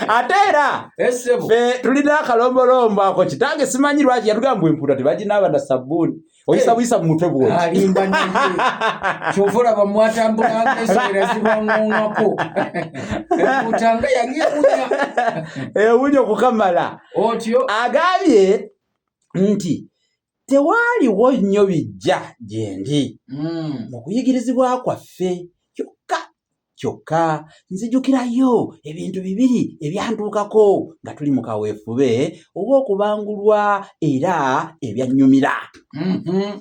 ate era eh, fe tulina akalombolombo ako kitange simanyi lwaki yatugamba empuuta tebaginaaba na sabbuuni oyisa eh. buyisa mu mutwe bwokyova olaba mwatambulanga esoera zibangongako empuuta nga yali ewunya ewunya okukamala otyo agambye nti tewaaliwo nnyo bijja gyendi hmm. mu kuyigirizibwa kwaffe kyokka nzijukirayo ebintu bibiri ebyantuukako nga tuli mu kaweefube ow'okubangulwa era ebyannyumira mm-hmm.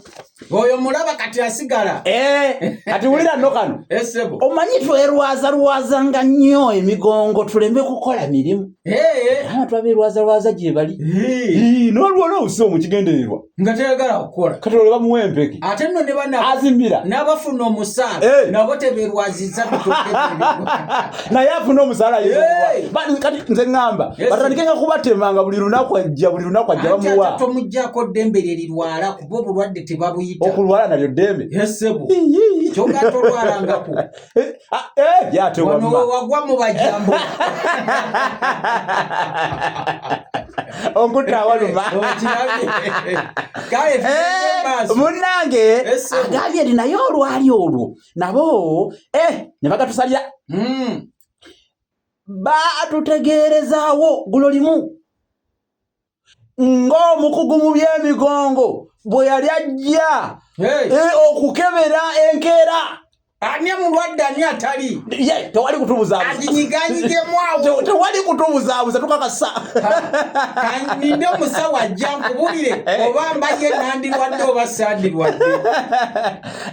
oyo mulaba kati asigala eh, kati wulira no kano eh, omanyi twerwazalwaza nga nnyo emigongo tuleme kukola mirimu eh. twaberwazalwaza gye bali n'olwona obusi omukigendererwa nga tayagala kukola kati olwo bamuwa empeke ate nno ne banaazimira n'abafuna omusaala eh. nabo teberwaziza naye afuna omusaala kati nze ŋŋamba batandike nga kubatemanga buli lunaku ajja buli lunaku ajja bamuwa tomuggyako ddembe lye lirwala kuba obulwadde tebabuyita okulwala nalyo ddembe yesebo kyogatolwalangako Eh, ah, eh, yate wagwa mu bajambo onkuta waluma eh, munange agambye nti naye olwali olwo nabo ne bagatusalira hmm. batutegeerezaawo gulo limu ng'omukugu mu by'emigongo bwe yali ajja eh, okukebera enkeera ani mulwadde ani atali tewali kutubuzabuzatewali kutubuzaabuza tukakasa ninde omusawo ajja nkubulire eh. oba mbaye nandirwadde oba sandirwadde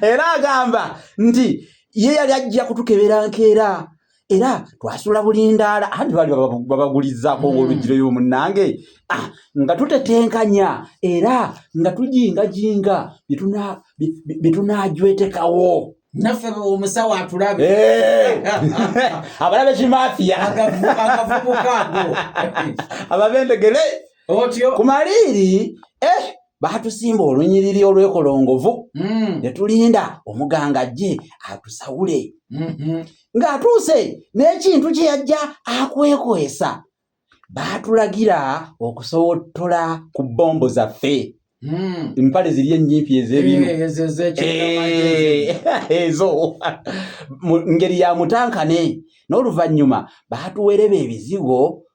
era agamba nti ye yali ajja kutukebera nkeera era twasula bulindaala anti bali babagulizzaako mm. olugiro yo munnange ah, nga tutetenkanya era nga tujingajinga bye tunaajwetekawo naffe omusawo atulabe eh. abalabe kimafiya agavubukago ababendegere otyo ku maliiri eh. baatusimba olunyiriri olwekolongovu hmm. ne tulinda omuganga ajje atusawule mm-hmm. ng'atuuse n'ekintu kye yajja akwekwesa baatulagira okusowottola ku bbombo zaffe Hmm. empale ziri enyimpi ezebinu eh, eh, eh, ezo ngeri ya mutankane n'oluvannyuma baatuwereba ebizigo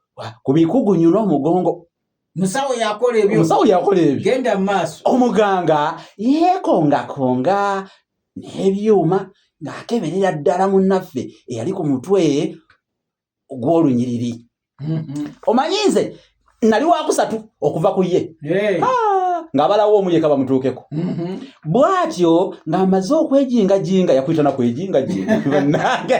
ku bikugunyu n'omugongo musawo yakola ebyo musawo yakola ebyo genda maaso omuganga yekongakonga n'ebyuma ng'akeberera ddala munnaffe eyali ku mutwe gw'olunyiriri mm-hmm. omanyi nze nali wakusatu okuva ku ye ng'abalawo omu yeka bamutuukeko mm-hmm. bw'atyo ng'amaze okwejingajinga yakuyita na kwejingajinga bannange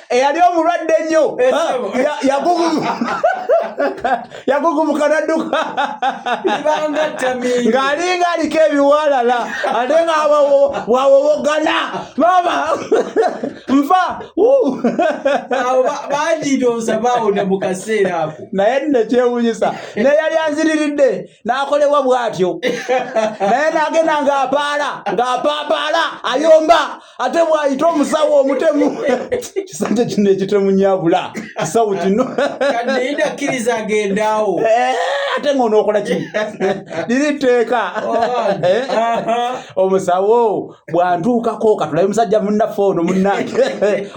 eyali omulwadde ennyo yagugubuka nadduka ng'alinga aliko ebiwalala ate nga bwawowogana mama nfa banjitoosa bawona mu kaseera ako naye nekyewunyisa naye yali anziriridde n'akolebwa bw'atyo naye n'agenda ng'apaala ng'apaapaala ayomba ate bwayita omusawo omutemu kisanja kino ekitemu nyabula kisawo kino kaddeyitakkiriza agendaawo eh, ate nga onookola ki liri tteeka eh, omusawo bwantuukako katulabe musajja munnaffe ono munnange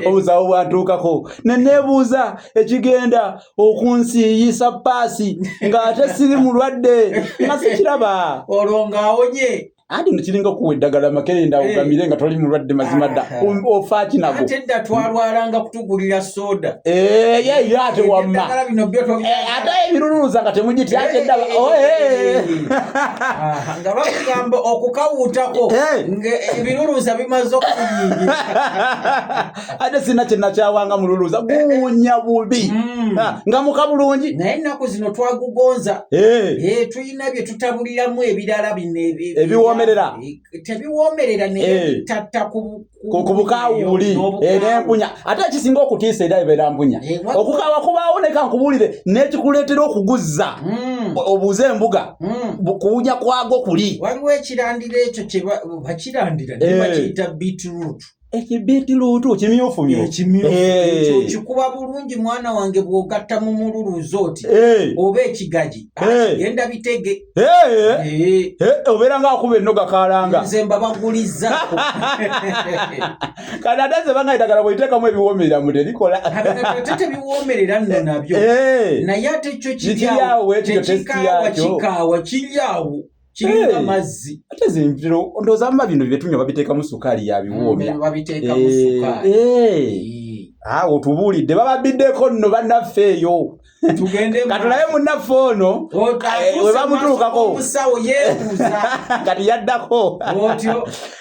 omusawo bwantuukako neneebuuza ekigenda okunsiiyisa paasi ng'ate siri mulwadde nga sikiraba olwo ng'awonye anti nekiringa okuwa eddagala makerenda eh. ogamire nga toli mulwadde mazima dda ah. um, ofaaki nago tedda twalwalanga kutugulira soda eh, yeyo ate wamma eh, ate ebiruluuza nga temugityakyeddaba oh, nga bakugamba okukawuutako ebiruluuza bimaze okuyingira ate sina kyenakyawanga mululuuza guwunya bubi mm. ah, nga muka bulungi naye ennaku zino twagugonza na bye tutabuliramu ebirala bino ebiwoomerera eh, tebiwoomerera netatta eh. kubukawuuli eh, nempunya ate ekisinga okutiisa era ebeera mpunya okukawa kubaawo neka nkubuulire nekikuleetera okuguzza hmm. obuuze embuga hmm. kuwunya kwago kuli waliwo ekirandira ekyo bakirandira bakiyita beetroot ekibiitiruutu kimyufu ekikuba eh. bulungi mwana wange bw'ogatta mu mululuuza oti eh. oba ekigagi ah, eh. genda bitege obeera ng'akuba ennoga kalanga nze mba bagulizza kati ate nze banga eddagala bwoliteekamu ebiwoomerera mu terikola ate tebiwoomerera nno nabyo naye ate kyo kiryawo tekikaawa kikaawa kiryawo kiringa mazzi ate zintiro ndowooza muba bino byetunywa babiteekamu sukaali yabiwoomya mm, babiteekamu eh, sukaali eh. ah, otubuulidde bababbiddeko nno bannaffe eyo katulabe munaffe ono webamutuukako kati yaddako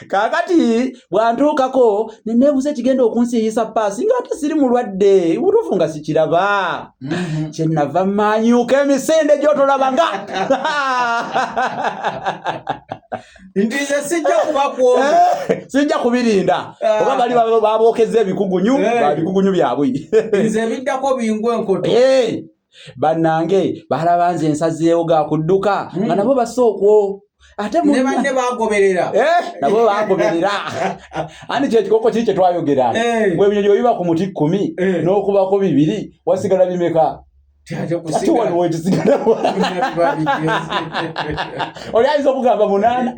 kakati bwantuukako neneebuza ekigenda okunsiiyisa paasi nga ate siri mulwadde butuufu nga sikiraba mm-hmm. kyenava maanyuuka emisinde gyotolaba nga Eh, sijja kubirinda ah. oba bali babookeza ebikugunyu eh. bikugunyu byabwe nze biddako bingwa enkoto eh. bannange balaba nze ensazeewo ga kudduka hmm. nga nabo basa okwo ate nebanne bagoberera eh, nabo bagoberera ani kyekikoko kiri kyetwayogera eh. gwe ebinyonyi webiba ku muti kkumi eh. n'okubako bibiri wasigala bimeka oli ayinza okugamba munaana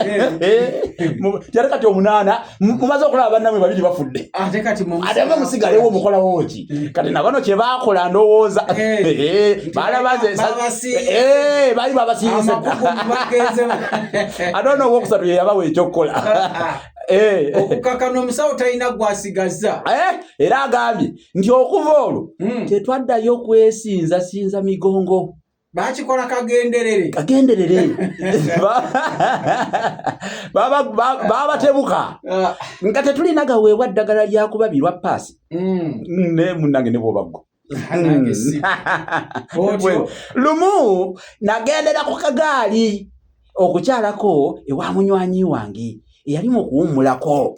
kyate kati omunaana mumaze okulaba bannamwe babiri bafudde ate nga musigalewo omukolawo ki mm. kati nabano kyebakola ndowooza eh. Eh, eh, balabaze bali babasiise ate ono owokusatu yeyabawa ekyokukola ah, ah. Eh. okukakana omusawo talina gwasigaza eh, era agambye nti okuva olwo hmm. tetwaddayo kwesinza sinza migongo bakikola kagenderere kagenderere babatebuka ah. nga tetulina gaweebwa ddagala lyakubabirwa paasi mm. naye munange ne bwobaggo mm. lumu nagendera ku kagaali okukyalako ewa munywanyi wange eyalimu okuwummulako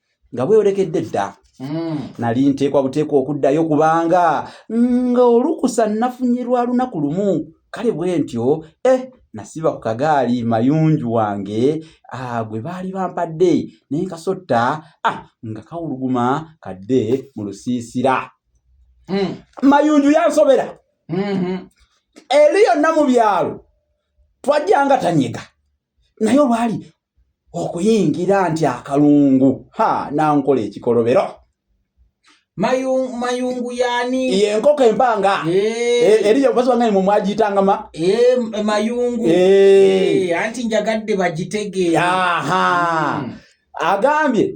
nga bweyolekedde dda hmm. nali nteekwa buteekwa okuddayo kubanga nga olukusa nafunye lwa lunaku lumu kale bwe ntyo e eh, nasiba ku kagaali mayunju wange ah, gwe baali bampadde naye nkasotta ah, nga kawuluguma kadde mu lusiisira hmm. mayunju yansobera mm-hmm. eri yonna mu byalo twajjanga tanyega naye olwali okuyingira nti akalungu ha nankola ekikolobero mayungu yani ye enkoko empanga eh. eh, eriyo basanga ni mumwajitanga ma eh, mayungu anti njagadde bagitegeera hmm. agambye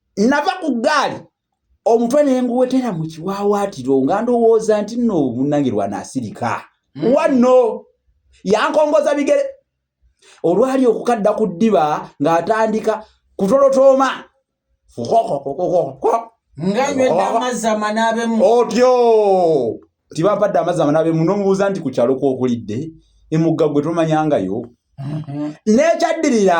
Nava ku ggaali omutwe ne nguwetera mu kiwaawaatiro nga ndowooza nti nno obunnange lwanaasirika hmm. wanno yankongoza bigere olwali okukadda ku ddiba ng'atandika kutolotooma otyo nti bampadde amazzi amanaabemu n'omubuuza nti ku kyalo kwokulidde emugga gwe tomanyangayo mm-hmm. n'ekyaddirira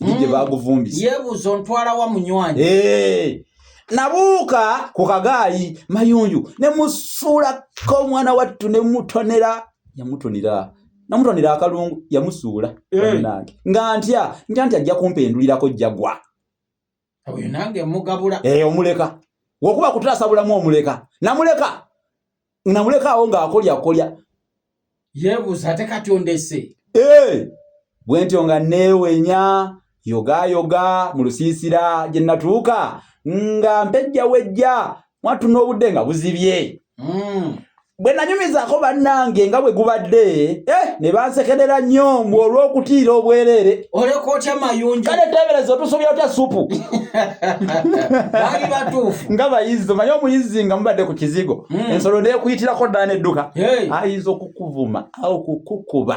gye hmm. baaguvumbisa yeebuuza ontwala wa munywanyi eh. nabuuka ku kagaayi mayunju ne musuulako omwana wattu ne mutonera yamutonera namutonera akalungu yamusuula eh. nange nga ntya ntya nti ajja kumpendulirako jjagwa oyo nange mugabula eh omuleka wokuba kutasa bulamu omuleka namuleka namuleka awo nga akolya kolya yebuza ate kati ondese eh bwenti onga newenya yoga yoga mu lusiisira gye natuuka nga mpejja wejja mwattu n'obudde nga buzibye hmm. bwe nanyumizaako bannange nga bwe gubadde eh, ne bansekerera nnyo mbu olw'okutiira obwereere oleka otya mayunja kale teebereza otusobya otya supu bali batuufu nga bayizzi omanye omuyizzi nga mubadde ku kizigo hmm. ensolo neekuyitirako ddala n'edduka ayinza okukuvuma awo kukukuba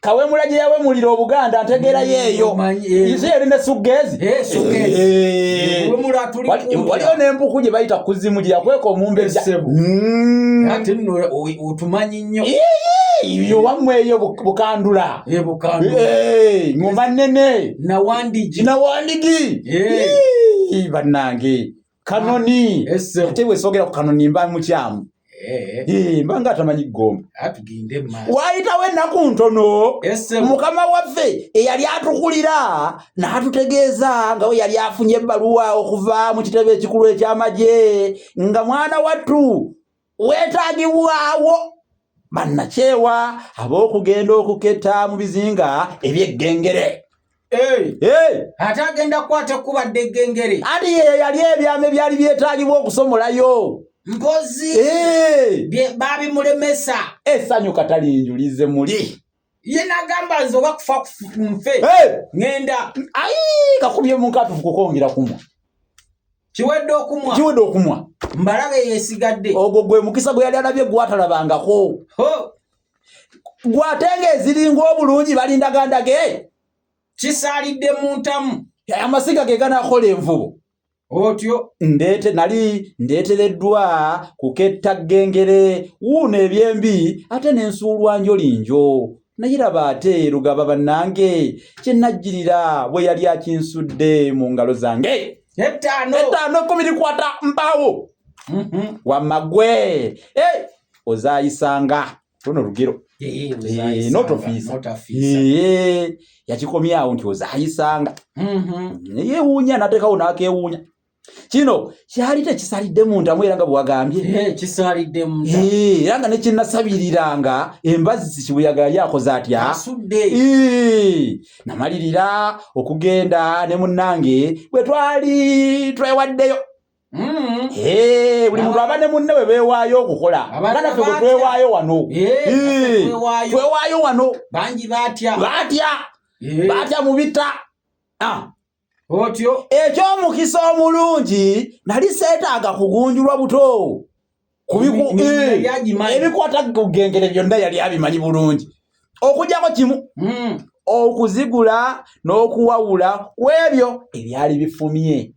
kawemula gye yawemulira obuganda ntegeera yeeyo ize eri ne suggeezi waliwo n'empuku gye bayita kuzimu gye yakweka omumbejja otumanyi nnyo yowamu eyo bukandula ngoma nene nawandigi banange kanoni ate bwesogera ku kanoni mba mukyamu eh. eh, mba nga atamanyi gomba waayitawo ennaku ntono mukama waffe eyali atukulira n'atutegeeza nga we yali afunye ebbaluwa okuva mu kitebe ekikulu eky'amagye nga mwana wattu weetaagibwawo bannakyewa ab'okugenda okuketta mu bizinga eby'eggengere ate agenda kukwata ekkuba dde eggengere ati yeyo yali ebyama ebyali byetaagibwa okusomolayo mpozi baabimulemesa essanyu katalinjulize muli ye nagamba nze oba kufa nfe ŋenda ayi kakubye munkatufu kukongera kumwa kiwedde okumwa kiwedde okumwa mbalabe yesigadde ogwo gwe mukisa gwe yali alabye gwatalabangako gwate nga eziringa obulungi balindagandage kisaalidde mu ntamu amasiga ge ganakola envubo otyo ndeete nali ndeetereddwa kuketta ggengere wuuno ebyembi ate ne nsuulwa njolinjo naye laba ate lugaba bannange kye najjirira bwe yali akinsudde mu ngalo zange ettaano ettaano ekkumi likwata mpaawo mhm. wamma gwe eh, ozaayisanga luno lugero yakikomyawo nti ozayisanga mm-hmm. yewuunya natekawo nakewuunya kino kyali tekisalidde mundamu era nga bwewagambye era nga nekinnasabiriranga embazzi kibuyaga yali akoze atya namalirira okugenda ne munnange bwe twali twewaddeyo Mm-hmm. Eh, buli muntu aba ne munne we beewaayo okukola banaffe bwe twewaayo wano eh, eh, twewaayo wano bangi batya batya batya mu bitta ah. otyo eky'omukisa omulungi nali seetaaga kugunjulwa buto ebikwata kugengere byonna yali abimanyi bulungi okujako kimu mm. okuzigula n'okuwawula ku ebyo ebyali bifumye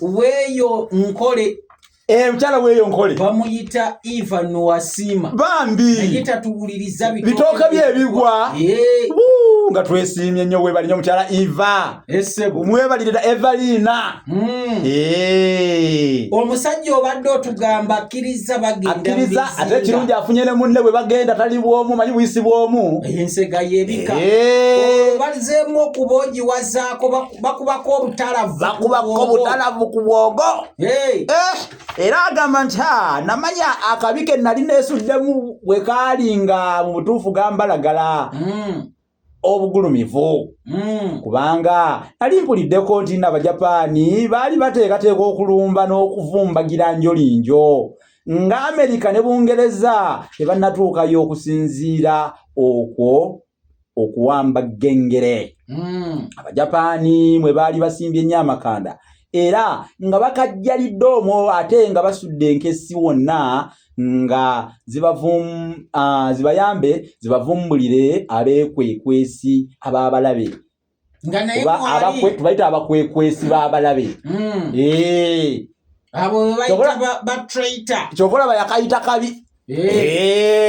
weyo nkole eh, mukyala weyo nkole bamuyita eva nowasiima bambi naye tatuwuliriza bitooke byebigwa eh. nga twesiimye nnyo webali nyo mukyala eva mwebalirira evaliina hmm. eh. omusajja obadde otugamba akkiriza bagendakkiriza ate ekirungi afunye ne munne bwe bagenda tali bwomu manyi buyisi bwomu ensega yebika obazeemu okuba ogiwazaako baku bakubako obutalavu ku bwogo eh, era agamba nti ha namanya akabi ke nali nesuddemu bwe kaali nga mu butuufu gambalagala hmm. obugulumivu hmm. kubanga nali mpuliddeko nti nabajapaani baali bateekateeka okulumba n'okuvumbagira njolinjo nga amerika ne bungereza tebannatuukayo okusinziira okwo okuwamba gengere hmm. abajapaani mwe baali basimbye ennyo amakanda era nga bakajjalidde omwo ate nga basudde enkesi wonna nga zibayambe zibavumbulire abeekwekwesi ab'abalabe tubayita abakwekwesi b'abalabe hmm. eh. kyokola bayakayita kabi eh. Eh.